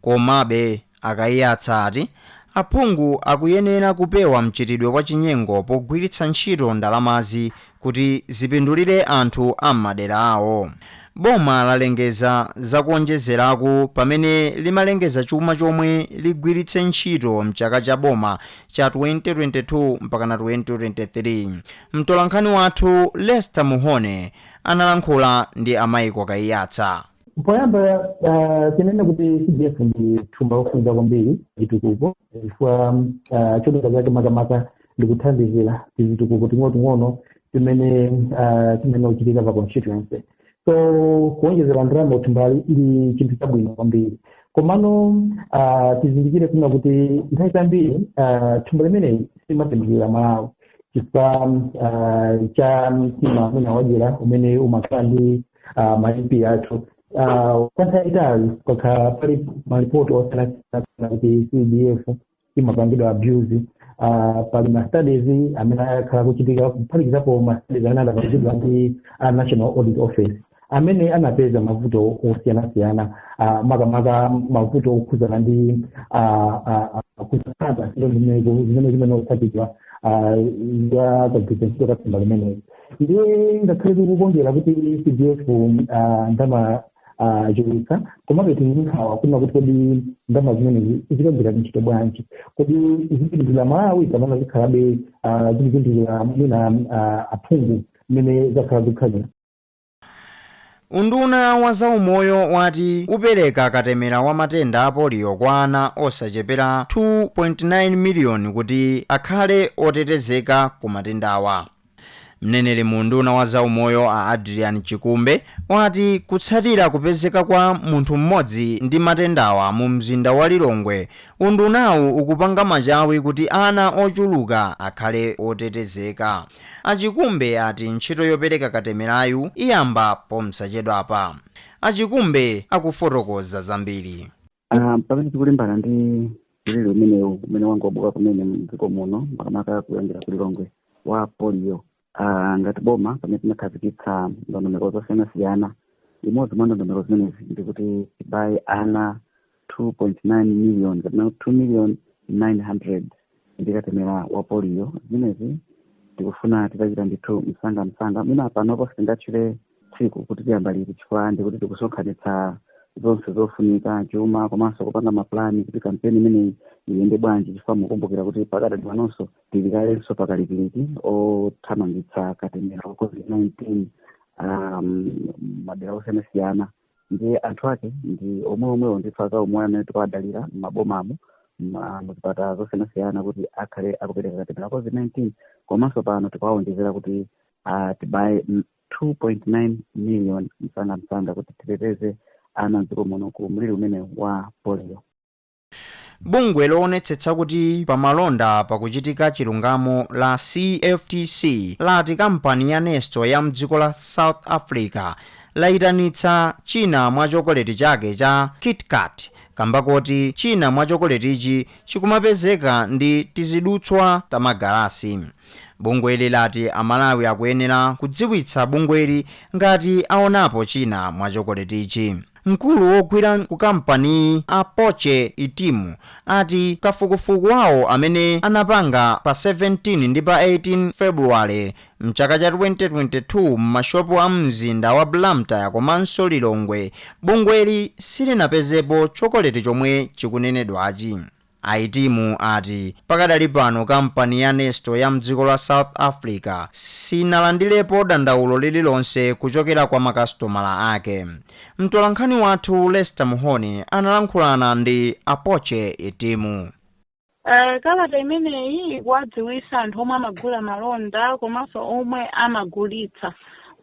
Komabe, a Kaiyatsa ati aphungu akuyenera kupewa mchitidwe wa chinyengo pogwiritsa ntchito ndalamazi kuti zipindulire anthu a m'madera awo. Boma lalengeza za kuonjezeraku pamene limalengeza chuma chomwe ligwiritse ntchito m'chaka cha boma cha 2022 mpakana 2023. Mtolankhani wathu Lester Mhone analankhula ndi a Michael Kaiyatsa. Poyamba ah, tinene kuti CDF ndi thumba lofunika kwambiri chitukuko chifukwa ah, cholinga chake makamaka ndi kuthandizira tizitukuko ting'onoting'ono timene ah, timene tikuchitika pa constituency so kuonjezera ndalama ku thumbali ndi chinthu chabwino kwambiri komano ah, tizindikire kunena kuti nthawi zambiri ah, thumba limeneli silimathandizira amalawi chifukwa ah, cha mtima amene wadyera umene umakhala ndi ah, ma mp athu Ah, kwa nthawi yaitali pakhala pali malipoti osiyanasiyana kuti cdf imapangidwa abuse Ah, pali ma studies amene akhala akuchitika kuphatikizapo ma studies amene adapangidwa ndi a national audit office amene anapeza mavuto osiyanasiyana ah, makamaka mavuto okhudzana ndi ah, ah, ah, kusatsata zoyenera zimene zimene otsatidwa ah, za kagwiritsidwe ntchito ka thumba limeneli ndiye ngakhale tikukondwera kuti cdf ah, ndama ah, achulutsa komabe tili ndi nkhawa kunena kuti kodi ndama zimenezi zikagwira ntchito bwanji kodi zipindulira amalawi kapena zikhalabe ah, zikupindulira mwina ah, aphungu mmene zakhala zikhalira Unduna wa zaumoyo wati upereka katemera wa matenda a polio kwa ana osachepera 2.9 miliyoni kuti akhale otetezeka ku matendawa. Mneneri mu unduna wa zaumoyo a Adrian Chikumbe wati kutsatira kupezeka kwa munthu m'modzi ndi matendawa mu mzinda wa Lilongwe, undunawu ukupanga machawi kuti ana ochuluka akhale otetezeka. A Chikumbe ati ntchito yopereka katemerayu iyamba pomsachedwapa. A Chikumbe akufotokoza zambiri. Pamene tikulimbana ndi mliri umenewu umene wangobuka kumene mdziko muno makamaka kuyambira ku Lilongwe wa polio, ngati boma pamene tinakhazikitsa ndondomeko zosiyanasiyana, imodzi mwa ndondomeko zimenezi ndikuti tibaye ana 2.9 million kapena 2 million 900 ndi katemera wa polio zimenezi tikufuna titachita ndithu msanga msanga mwina panopo sitingatchule tsiku kuti tiyamba liti chifukwa ndikuti tikusonkhanitsa zonse zofunika chuma komanso kupanga mapulani kuti kampeni imeneyi iyende bwanji chifukwa mukumbukira kuti pakadali panonso tili kalenso pakalikiliki othamangitsa katemera wa covid-19 um, madera osiyanasiyana ndiye anthu ake ndi omwe omwewo ndithu azaumoyo amene tikuwadalira m'mabomamo ma- muzipatala zosiyanasiyana kuti akhale akupereka katemera wa covid-19 komanso pano tikuwawonjezera kuti ah, tibaye mm, 2.9 million msangamsanga kuti titeteze ana mdziko muno ku mliri umenewu wa polio Bungwe loonetsetsa kuti pa malonda pakuchitika chilungamo la CFTC lati kampani ya Nestle ya mdziko la South Africa layitanitsa china mwa chokoleti chake cha KitKat kamba koti china mwa chokoletichi chikumapezeka ndi tizidutswa ta magalasi. Bungweli lati a Malawi akuyenera kudziwitsa bungweli ngati aonapo china mwa chokoletichi. Mkulu wogwira ku kampaniyi Apoche Itimu ati kafukufuku wawo amene anapanga pa 17 ndi pa 18 February mchaka cha 2022 m'mashopu a mumzinda wa Blantyre komanso Lilongwe, bungweli silinapezepo chokoleti chomwe chikunenedwachi. A Itimu ati pakadali pano kampani ya Nestle ya mdziko la South Africa sinalandilepo dandaulo lililonse kuchokera kwa makasitomala ake. Mtolankhani wathu Lester Mhone analankhulana ndi Apoche Itimu. Uh, kalata imeneyi ikuwadziwisa anthu omwe amagula malonda komanso omwe amagulitsa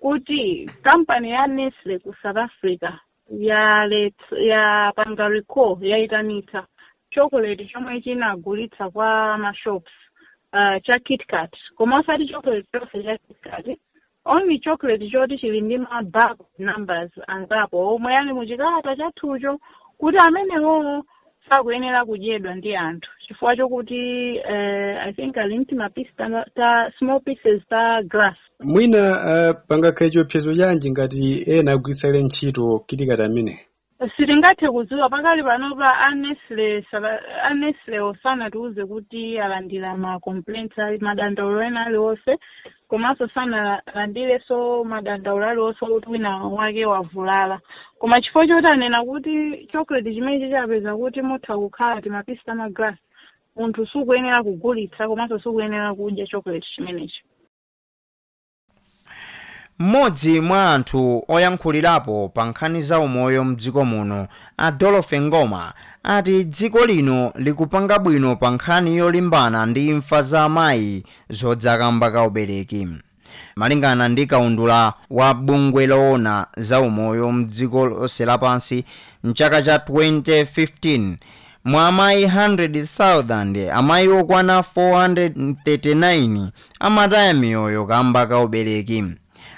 kuti kampani ya Nestle ku South Africa yalet- yapanga recall yayitanitsa chocolate chomwe chinagulitsa kwa mashops uh, cha kitkat koma osati chocolate chonse cha kitkat only chocolate choti chili ndi ma batch numbers angapo omwe ali mu chikalata chathucho kuti amenewowo sakuyenera kudyedwa ndi anthu chifukwa chokuti eh, i think ali ndi mapisi ta, ta small pieces ta glass mwina uh, pangakhale chiopsezo chanji ngati ena agwiritsapo kale ntchito KitKat ameneyi sitingathe kudziwa pakali panopa a Nestle a Nestlewo sanatiuze kuti alandira ma complaints or madandaulo ena aliwonse komanso sanalandirenso madandaulo aliwonse okuti wina wake wavulala koma chifukwa choti anena kuti chocolate chimenechi apeza kuti mutha kukhala timapisi ta magalasi munthu sukuyenera kugulitsa komanso sukuyenera kudya chocolate chimenechi mmodzi mwa anthu oyankhulirapo pa nkhani za umoyo mdziko muno a Dorothy Ngoma ati dziko lino likupanga bwino pa nkhani yolimbana ndi imfa za amayi Zodza kamba ka ubereki Malingana ndi kaundula wa bungwe loona za umoyo mdziko lonse lapansi, mchaka cha 2015, mwa amayi 100,000, amayi okwana 439 amataya miyoyo kamba ka ubereki.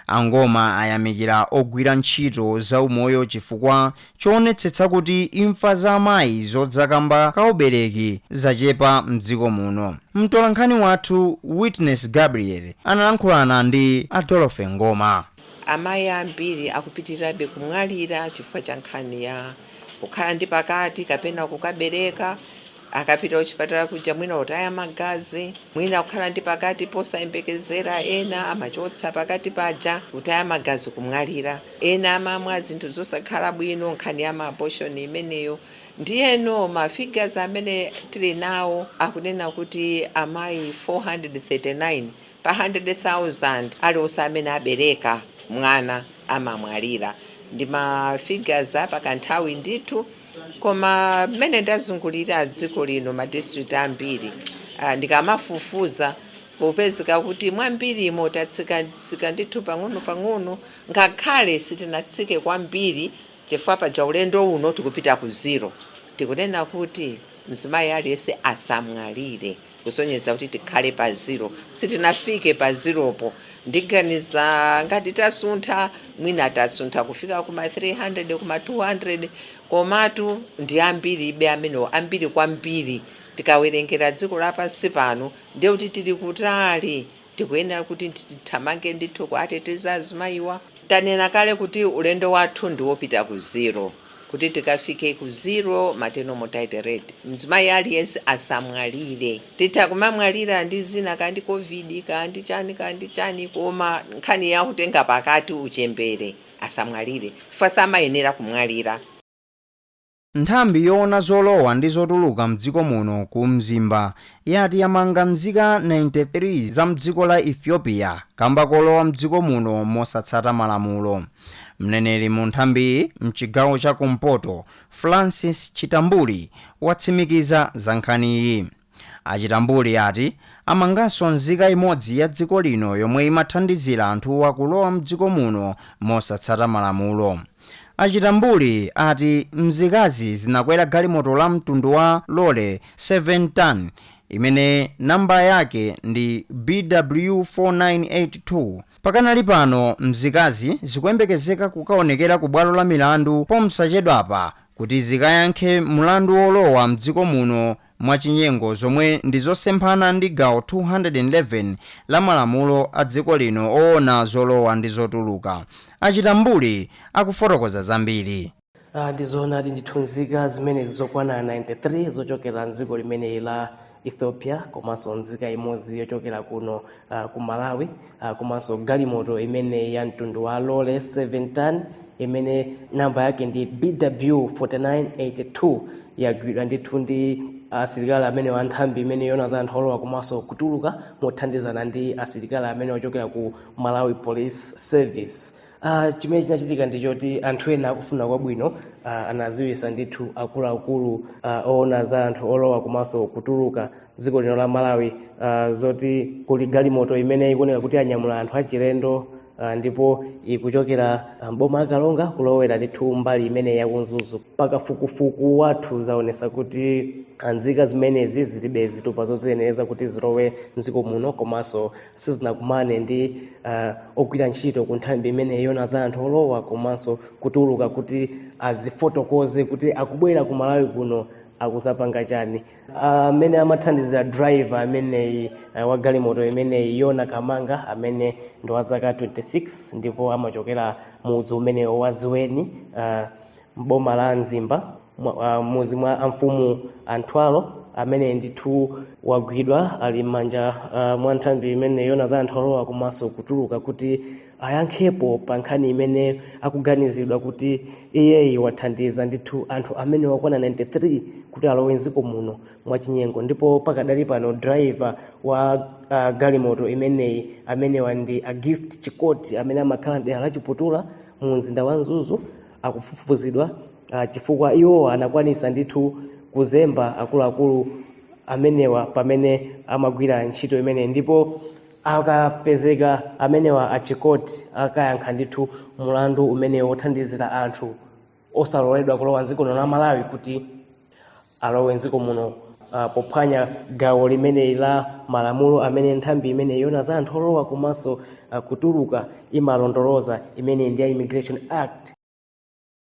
A Ngoma ayamikira ogwira ntchito za umoyo chifukwa choonetsetsa kuti imfa za amayi zodza kamba ka ubereki zachepa mdziko muno. Mtolankhani wathu Witness Gabriel analankhulana ndi a Dorothy Ngoma. Amayi ambiri akupitirirabe kumwalira chifukwa cha nkhani ya kukhala ndi pakati kapena kukabereka. Akapita kuchipatala kuja mwina kutaya magazi, mwina kukhala ndi pakati posayembekezera, ena amachotsa pakati paja, kutaya magazi, kumwalira. Ena amamwa zinthu zosakhala bwino, nkhani ya ma abortion imeneyo. Ndiyeno ma figures amene tili nawo akunena kuti amayi 439 pa 100,000 aliwonse amene abereka mwana amamwalira. Ndi ma figures a pa kanthawi ndithu. Koma mmene ndazungulira dziko lino ma district ambiri ah, ndikamafufuza kukupezeka kuti mwambirimo tatsikatsika ndithu pang'ono pang'ono ngakhale sitinatsike kwambiri chifukwa paja ulendo uno tikupita ku zero tikunena kuti mzimayi aliyense asamwalire kusonyeza kuti tikhale pa zero sitinafike pa zeropo ndiganiza ngati tasuntha mwina tasuntha kufika kuma 300 kuma 200 komatu ndi ambiribe amenewo ambiri kwambiri tikawerengera dziko lapansi pano ndiye kuti tili kutali Tikuyenera kuti tithamange ndithu kuwateteza azimayiwa. Tanena kale kuti ulendo wathu ndi wopita ku zero. Kuti tikafike ku zero maternal mortality rate, mzimayi aliyense asamwalire. Titha kumamwalira ndi zina kaya ndi Covid kaya ndi chani kaya ndi chani koma nkhani ya kutenga pakati uchembere asamwalire chifukwa samayenera kumwalira. Nthambi yowona zolowa ndi zotuluka mdziko muno ku Mzimba yati yamanga mzika 93 za mdziko la Ethiopia kamba kolowa mdziko muno mosatsata malamulo. Mneneri mu nthambiyi mchigawo cha kumpoto Francis Chitambuli watsimikiza za nkhaniyi. A Chitambuli ati amanganso nzika imodzi ya dziko lino yomwe imathandizira anthuwa kulowa mdziko muno mosatsata malamulo. A Chitambuli ati mzikazi zinakwera galimoto la mtundu wa lole 7 ton imene number yake ndi BW 4982. Pakanali pano mzikazi zikuyembekezeka kukaonekera ku bwalo la milandu pomsachedwapa kuti zikayankhe mlandu wolowa mdziko muno mwachinyengo zomwe ndi zosemphana ndi gawo 211 la malamulo a dziko lino owona zolowa ndi zotuluka. A Chitambuli akufotokoza zambiri. Ah, ndi zoonadi ndithu nzika zimenezi zokwana 93 zochokera mdziko limeneli la ethiopia komanso nzika imodzi yochokera kuno ah, ku malawi ah, komanso galimoto imene ya mtundu wa lole 7 ton imene namba yake ndi bw 4982 yagwidwa ndithu ndi asilikali amenewa a nthambi imeneyi yoona za anthu olowa komanso kutuluka mothandizana ndi asilikali amenewa ochokera ku malawi police service Ah, chimene chinachitika ndi choti anthu ena akufuna kwabwino ah, anaziwisa ndithu akuluakulu ah, oona za anthu olowa komanso kutuluka mdziko lino la malawi uh, zoti kuli galimoto imene ikuoneka kuti yanyamula anthu achilendo uh, ndipo ikuchokera mboma la karonga kulowera ndithu mbali imeneyi ya ku mzuzu pa kafukufuku wathu zaonesa kuti nzika zimenezi zilibe zitupa zoziyenereza kuti zilowe mdziko muno komanso sizinakumane ndi uh, ogwira ntchito ku nthambi imeneyi yoona za anthu olowa komanso kutuluka kuti azifotokoze kuti akubwera ku malawi kuno akuzapanga chani amene uh, amathandizira driver ameneyi uh, wa galimoto imeneyi yona kamanga amene ndi wa zaka 26 ndipo amachokera mudzi umenewu wa ezondweni uh, mboma la mzimba uh, mudzi mwa amfumu a mtwalo ameneyi ndithu wagwidwa ali m'manja uh, mwa nthambi imeneyi yoona za anthu olowa komanso kutuluka kuti ayankhepo pa nkhani imene akuganizidwa kuti iyeyi wathandiza ndithu anthu amenewa okwana 93 kuti alowe mdziko muno mwachinyengo ndipo pakadali pano driver wa uh, galimoto imeneyi amenewa ndi a gift chikoti amene amakhala mdera la chiputula mu mzinda wa mzuzu akufufuzidwa uh, chifukwa iwo anakwanisa ndithu kuzemba akuluakulu amenewa pamene amagwira ntchito imeneyi ndipo akapezeka amenewa a chikoti akayankha ndithu mulandu umenewu wothandizira anthu osaloledwa kulowa mdziko lino la malawi kuti alowe mdziko muno ah, pophwanya gawo limeneli la malamulo amene nthambi imeneyi yoona za anthu olowa komanso ah, kutuluka imalondoloza imene ndi ya immigration act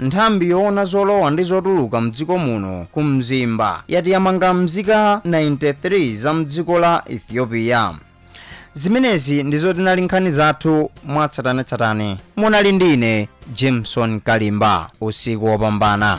Nthambi yowona zolowa ndi zotuluka mdziko muno ku Mzimba yati yamanga mzika 93 za mdziko la Ethiopia. Zimenezi ndizo zinali nkhani zathu mwatsatanetsatane. Munali ndi ine Jameson Kalimba. Usiku wopambana.